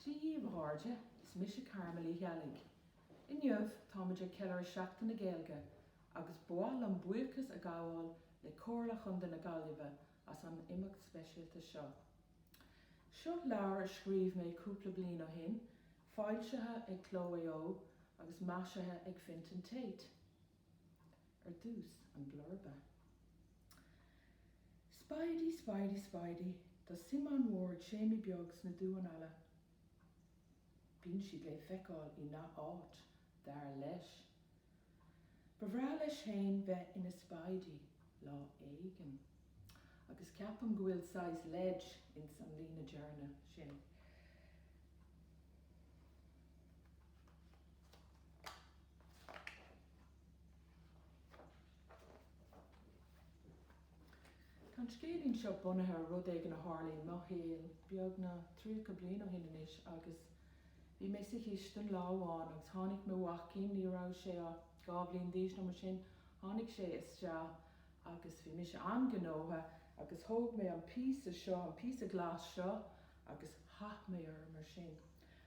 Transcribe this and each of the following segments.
Dia dhíbh a gcairde, is mise Carmel Uí Cheallaigh. Inniu táimid ag ceiliúradh Seachtain na Gaeilge agus ba mhaith liom buíochas a ghabháil le Comhairle Chontae na Gaillimhe as an imeacht speisialta seo. Seo leabhar a scríobh mé cúpla bliain ó shin, foilsithe ag Cló Mhaigh Eo agus maisithe ag Fintan Taite. Ar dtús, an blurba. Spidey, Spidey, Spidey, tá suim an-mhór ag Séimí beag sna duáin alla. Bíonn siad le feiceáil i ngach áit, dar leis. Ba bhreá leis féin bheith ina Spidey, lá éigin. Agus ceapaim go bhfuil saghas leid ins an líne deireanach sin. Tá an scéilín seo bunaithe ar rud éigin a tharla i mo shaol beagnach tríocha bliain ó shin anois agus bhí mé sa chistin lá amháin agus tháinig mo mhaicín, ní raibh sé ach dhá bhliain d'aois nó mar sin, tháinig sé isteach agus bhí mise an-ghnóthach agus thóg mé an píosa seo, an píosa glas seo agus chaith mé orm mar sin.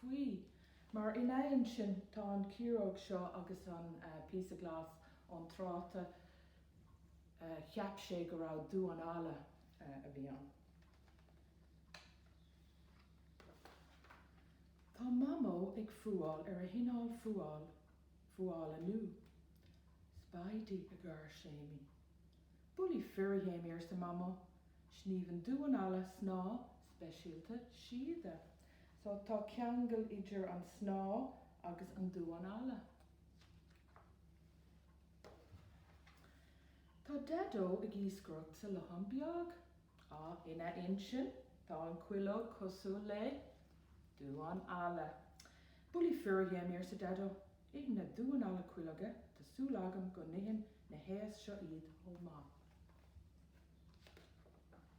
Faoi mar ina intinn, tá an chiaróg seo agus an píosa glas ón tráta, cheap sé go raibh duán alla a bhí ann. Tá Mamó ag fuáil ar a hinneall fuála nua. Spidey, a gháir Séimí. Bulaí fir, a Shéimí, arsa Mamó. Sníomhann duán alla snáth speisialta síoda So tá ceangal idir an snáth agus an duán alla. Tá Daideo ag iascaireacht sa Lochán Beag. Á, ina intinn, tá an cuileog cosúil le duán alla. Bulaí fir a Shéimí, arsa Daideo. Itheann na duáin alla cuileoga, tá súil agam go n-itheann na héisc seo iad chomh maith.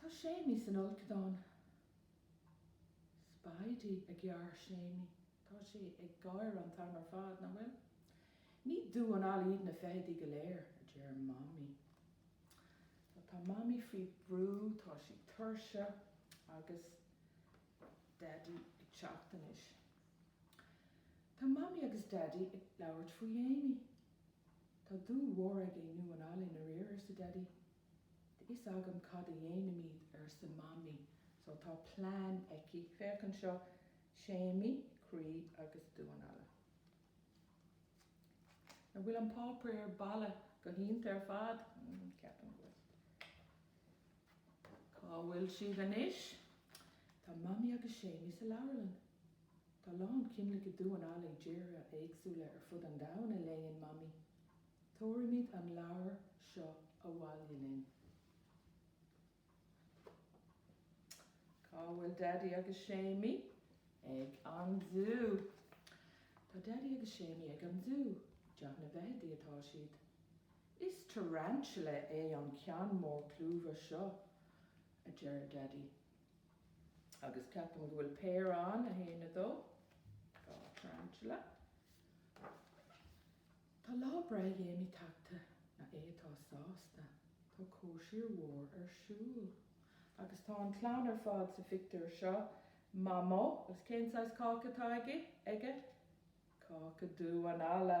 Tá Séimí san fholcadán. Spidey, a gháir Séimí, tá sé ag gáire an t-am ar fad, nach bhfuil? Ní duán alla iad na feithidí go léir, a deir Mamaí. So, tá Mamaí faoi bhrú, tá sí tuirseach agus Daidí ag teacht anois. Tá Mamaí agus Daidí ag labhairt faoi Shéamaí. Tá dúil mhór aige i ndamháin alla i ndáiríre, arsa Daidí. Tá a fhios agam cad a dhéanfaimid, arsa Mamaí, so tá plean aici. Féach anseo, Séamaí, croí agus damhán alla. An bhfuil an páipéar balla go hiontach ar fad? Ceapaim go bhfuil. Cá bhfuil siad anois? Tá Mamaí agus Séamaí sa leabharlann. Tá a lán cineálacha damhán alla i dtíortha éagsúla ar fud an domhain, a léann Mamaí. Tabharfaimid an leabhar seo abhaile linn. Cá bhfuil Daidí agus Séamaí? Ag an zú. Tá Daidí agus Séamaí ag an zú. I dteach na bhfeithidí atá siad. Is tarantula é an ceann mór clúmhach seo, a deir Daidí. Agus ceapaim go bhfuil péire ann, 1, 2, dhá tharantula. Tá lá breithe Shéamaí tagtha. Nach é atá sásta? Tá cóisir mhór ar siúl. Agus tá an chlann ar fad sa phictiúr seo, Mamó, agus cén saghas cáca atá aige? Cáca damháin alla.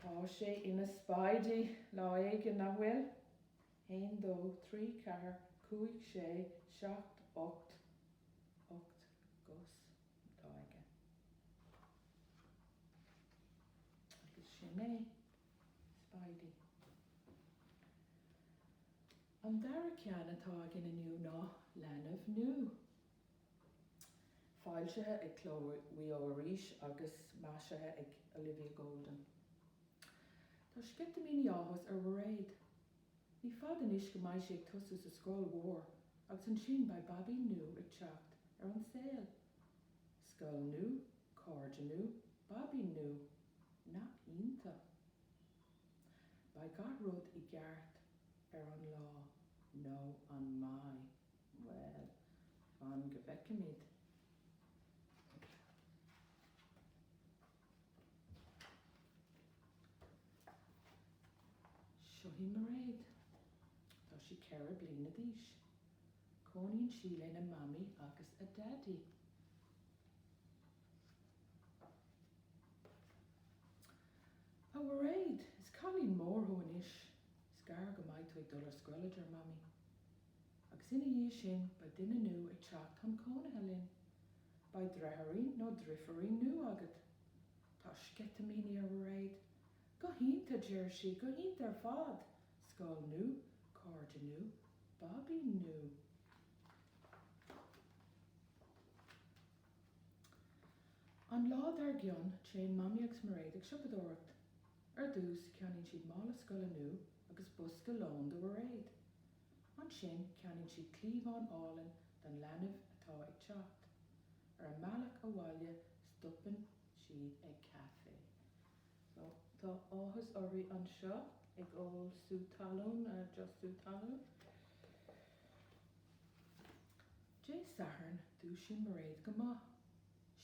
Tá sé ina Spidey lá éigin, nach bhfuil? Haon dó trí ceathair cúig sé seacht ocht. Ocht gcos atá aige. Agus sin é. Spidey. An dara ceann atá againn inniu ná Leanbh Nua. Foilsithe ag Cló Mhaigh Eo arís agus maisithe ag Olivia Golden. Tá sceitimíní áthais ar Mhairéad. Ní fada anois go mbeidh sí ag tosú sa scoil mhór agus ansin beidh babaí nua ag teacht ar an saol. Scoil nua, cairde nua, babaí nua. Nach iontach. Beidh gach rud i gceart ar an lá, nó an mbeidh? Bhuel, fan go bhfeicfimid. Seo hí Mairéad. Tá sí ceithre bliana d'aois. Cónaíonn sí lena mamaí agus a daidí. A Mhairéad, is cailín mór thú anois. Is gearr go mbeidh tú ag dul ar scoil, a deir mamaí. agus ina dhiaidh sin beidh duine nua ag teacht chun cónaithe linn. Beidh deartháirín nó deirfiúirín nua agat. Tá sceitimíní ar Mhairéad. Go hiontach, a deir sí, go hiontach ar fad! Scoil nua, cairde nua, babaí nua. An lá dar gcionn, téann Mamaí agus Mairéad ag siopadóireacht. Ar dtús, ceannaíonn siad mála scoile nua agus bosca lóin do Mhairéad. Ansin ceannaíonn siad cliabhán álainn don leanbh atá ag teacht. Ar an mbealach abhaile stopann siad ag caifé. So tá áthas uirthi anseo ag ól sú talún, just sú talún. Dé Sathairn dúisíonn Mairéad go moch.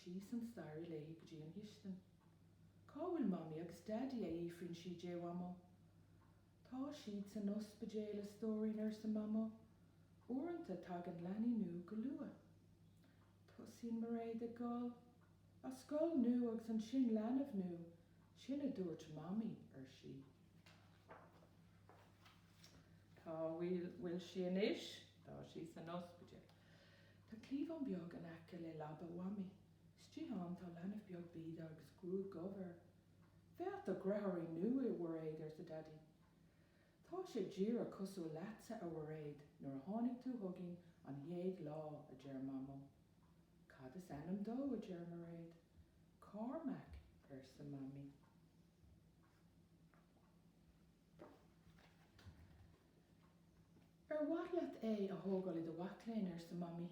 Síos an staighre léi go dtí an chistin. Cá bhfuil Mamaí agus Daidí, a fhiafraíonn sí de Mhamó. Tá siad san ospidéal, a stóirín, arsa Mamó. Uaireanta tagann leanaí nua go luath. Tosaíonn Mairéad ag gol. Ach scoil nua agus ansin leanbh nua, sin a dúirt Mamaí, ar sí. Cá bhfuil sí anois? Tá sí san ospidéal. Tá cliabhán beag in aice le leaba Mhamaí. Istigh ann tá leanbh beag bídeach agus gruaig dhubh air. Féach do dheartháirín nua, a Mhairéad, arsa Daidí. Tá sé díreach cosúil leatsa, a Mhairéad, nuair a tháinig tú chugainn an chéad lá, a deir Mamó. Cad is ainm dó? a deir Mairéad. Cormac, arsa Mamaí. Ar mhaith leat é a thógáil i do bhaclainn? arsa Mamaí.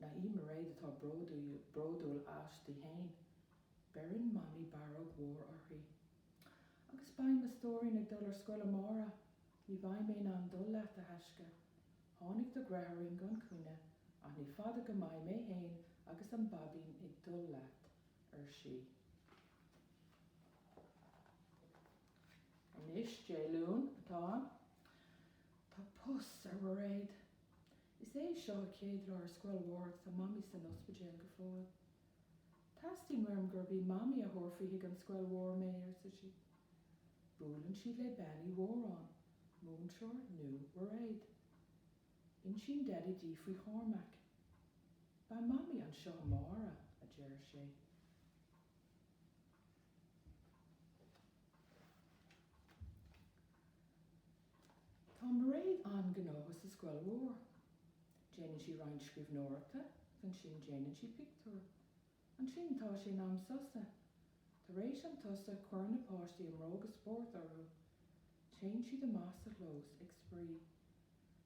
Nach í Mairéad atá bródúil aisti fhéin. Beireann Mamaí barróg mhór uirthi. Agus beidh mo stóirín ag dul ar scoil amárach. Ní bheidh mé in ann dul leat, a thaisce. Tháinig do dheartháirín gan choinne, ach ní fada go mbeidh mé fhéin agus an báibín ag dul leat, ar sí. Anois, Dé Luain atá ann. Tá pus ar Mhairéad. Is é seo a céad lá ar scoil mhór agus tá Mamaí san ospidéal go fóill. Teastaíonn uaim gurb í Mamaí a thabharfadh chuig an scoil mhór mé, arsa sí. Buaileann siad le Bean Uí Mhóráin, múinteoir nua Mhairéad. Insíonn Daidí di faoi Chormac. Beidh Mamaí anseo amárach, a deir sé. Tá Mairéad an-gnóthach sa scoil mhór. Déanann sí roinnt scríbhneoireachta agus ansin déanann sí pictiúir. Ansin tá sé in am sosa. Tar éis an tsosa cuireann na páistí a mbróga spóirt orthu. Téann siad amach sa chlós ag spraoi.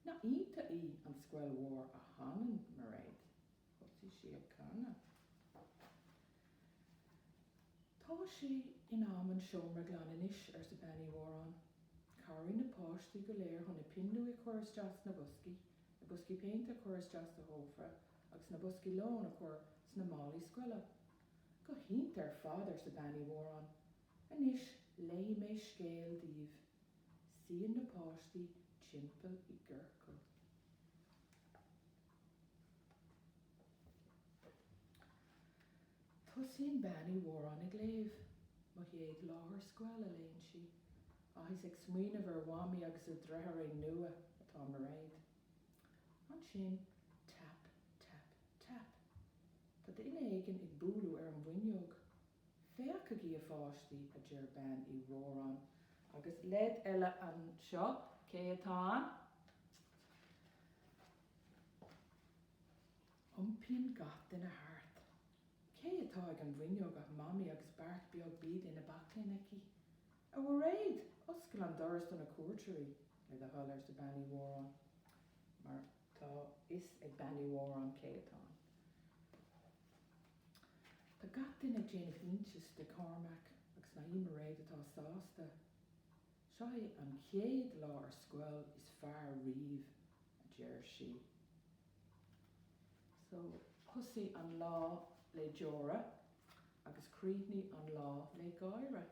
Nach iontach í an scoil mhór a chanann Mairéad. Thosaigh sí ag canadh. 'Tá sé in am an seomra a ghlanadh anois, arsa Bean Uí Mhóráin. 'Cabhraigh na páistí go léir chun na pinn luaidhe a chur isteach sna boscaí, na boscaí péinte a chur isteach sa chófra agus na boscaí lóin a chur sna málaí scoile. 'Go hiontach ar fad, arsa Bean Uí Mhóráin. 'Anois, léifidh mé scéal daoibh. Suíonn na páistí timpeall i gciorcal. Tosaíonn Bean Uí Mhóráin ag léamh. Mo chéad lá ar scoil, a léann sí. Ach is ag smaoineamh ar Mhamaí agus a deartháirín nua atá Mairéad. Ansin, tap, tap, tap. Tá duine éigin ag bualadh ar an bhfuinneog. Féachaigí, a pháistí, a deir Bean Uí Mhóráin. Agus leid eile anseo. Cé atá ann? Iompaíonn gach duine thart. Cé atá ag an bhfuinneog ach Mamaí agus beart beag bídeach ina baclainn aici. 'A Mhairéad, oscail an doras do na cuairteoirí, le do thoil, arsa Bean Uí Mhóráin. Mar tá a fhios ag Bean Uí Mhóráin cé atá ann. Tá gach duine ag déanamh iontais de Chormac agus nach í Mairéad atá sásta. Seo é an chéad lá ar scoil is fearr riamh, a deir sí. So, thosaigh an lá le deora agus chríochnaigh an lá le gáire.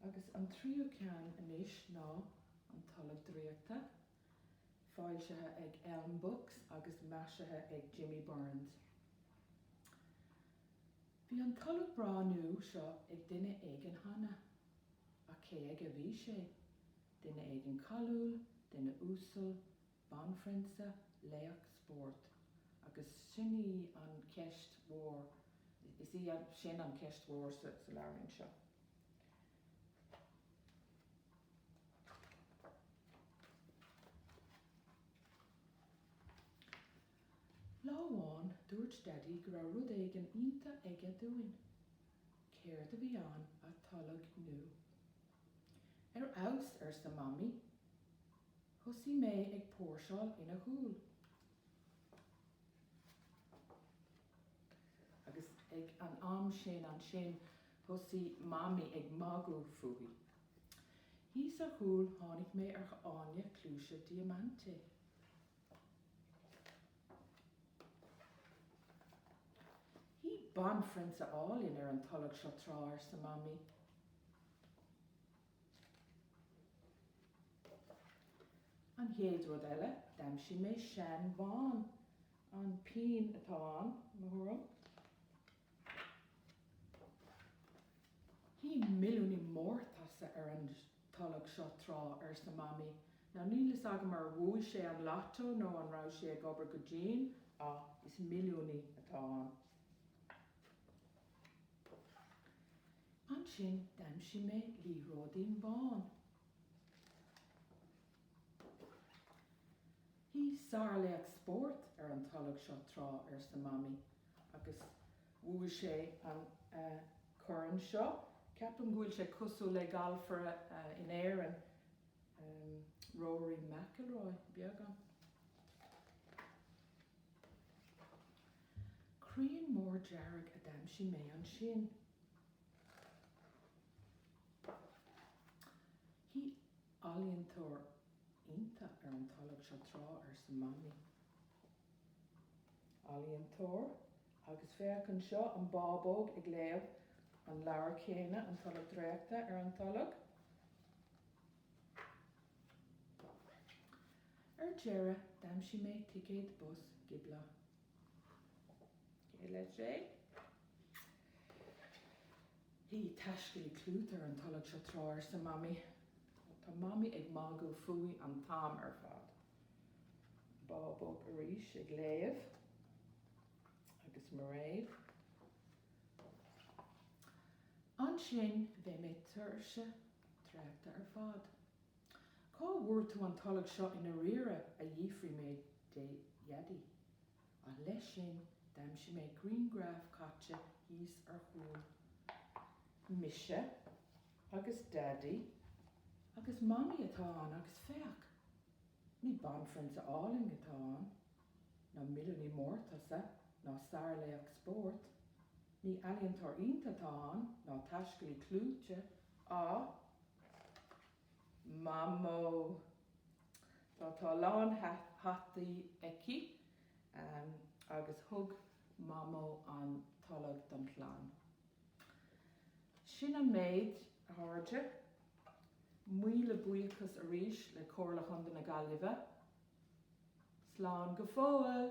Agus an tríú ceann anois ná an Tolg Draíochta. Foilsithe ag Elm Books agus maisithe ag Jimmy Burns. Bhí an tolg breá nua seo ag duine éigin cheana. Ach cé aige a bhí sé? Duine éigin cáiliúil, duine uasal, banphrionsa, laoch spóirt? Agus sin í an cheist mhór, is í sin an cheist mhór sa leabhairín seo. Lá amháin dúirt Daidí go raibh rud éigin iontach aige dúinn. Céard a bhí ann ach tolg nua! Ar fheabhas, arsa Mamaí. Thosaigh mé ag póirseáil ina chúl. Agus ag an am sin ansin thosaigh Mamaí ag magadh fúithi. Thíos ar chúl tháinig mé ar fháinne cluaise diamante. Shuigh banphrionsa álainn ar an tolg seo tráth, arsa Mamaí. An chéad rud eile, d'aimsigh mé seanbhonn An pingin atá ann, mo thuairim. Shuigh milliúnaí mórtasach ar an tolg seo tráth, arsa Mamaí. Now níl fhios agam ar bhuaigh sé an Lotto nó an raibh sé ag obair go dian, ach is milliúnaí atá ann. Ansin d'aimsigh mé liathróidín bán. Shuigh sárlaoch spóirt ar an tolg seo tráth, arsa Mamaí, agus bhuaigh sé an corn seo. Ceapaim go bhfuil sé cosúil le galfaire in Éirinn, Rory McIlroy, beagán. Crián mór dearg a d'aimsigh mé ansin. Ealaíontóir iontach ar an tolg seo tráth, arsa Mamaí. Ealaíontóir? Agus féach anseo, an bábóg ag léamh an leabhair chéanna, An Tolg Draíochta ar an tolg. Ar deireadh, d'aimsigh mé ticéad bus gioblach. Shuigh taiscéalaí clúiteach ar an tolg seo tráth, arsa Mamaí. Tá Mamaí ag magadh fúithi an t-am ar fad. Bábóg arís ag léamh. Agus Mairéad. Ansin bhí mé tuirseach traochta ar fad. Cá bhfuair tú an tolg seo i ndáiríre, a d'fhiafraigh mé de Dhaidí. Ach leis sin, d'aimsigh mé grianghraf caite thíos ar chúl mise agus Daidí agus Mamaí atá ann agus féach, ní banphrionsa álainn atá ann, ná milliúnaí mórtasach, ná sárlaoch spóirt, ní ealaíontóir iontach atá ann, ná taiscéalaí clúiteach, ach Mamó! Tá, tá a lán hataí aici agus thug Mamó an tolg don chlann. Sin an méid, a chairde. Míle buíochas arís le Comhairle Chontae na Gaillimhe. Slán go fóill!